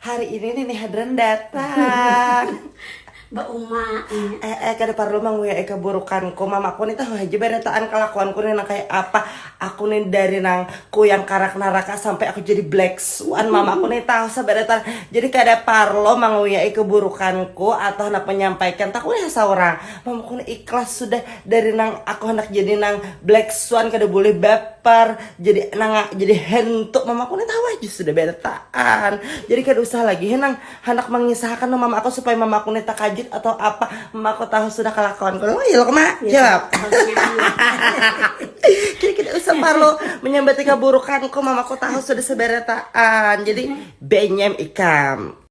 Hari ini Nini Hadran datang. Mbak Uma. Eh, eh, kada perlu manguyai keburukanku. Mamaku nih tahu aja barataan kelakuanku nih nang kayak apa. Aku nih dari nang kuyang karak naraka sampai aku jadi black swan. Mamaku nih tahu sabarataan. Jadi kada perlu manguyai keburukanku atau hendak menyampaikan. Tahu nih seorang. Mamaku nih ikhlas sudah dari nang aku hendak jadi nang black swan kada boleh baper. jadi nang jadi hentuk mama aku tahu aja sudah bertaan jadi kada usah lagi henang hendak mengisahkan no mama aku supaya mama aku neta kajut atau apa mama aku tahu sudah kelakuan kalau oh, ya kema jawab jadi kita usah perlu menyambati keburukan kok mama aku tahu sudah seberetaan jadi benyem ikam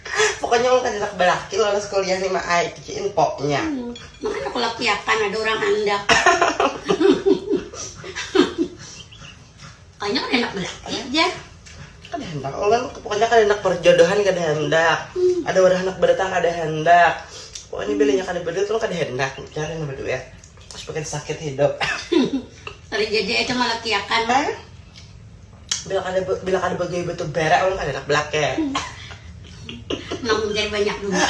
Pokoknya orang kada nak balaki lolos kuliah nih mak ai, itu infonya. Hmm, makanya aku lakiakan ada orang andak. Kayaknya kada nak balaki aja. Kada hendak orang, pokoknya kada nak perjodohan kada hendak. Hmm. Ada orang nak berdatang kada hendak. Pokoknya hmm. bilanya kada berduit orang kada hendak cari yang berduit. Terus bikin sakit hidup. Terjadi itu malakiakan. Eh? bila kada bila kada bagawi betul berak orang kada enak belak ya nang banyak duit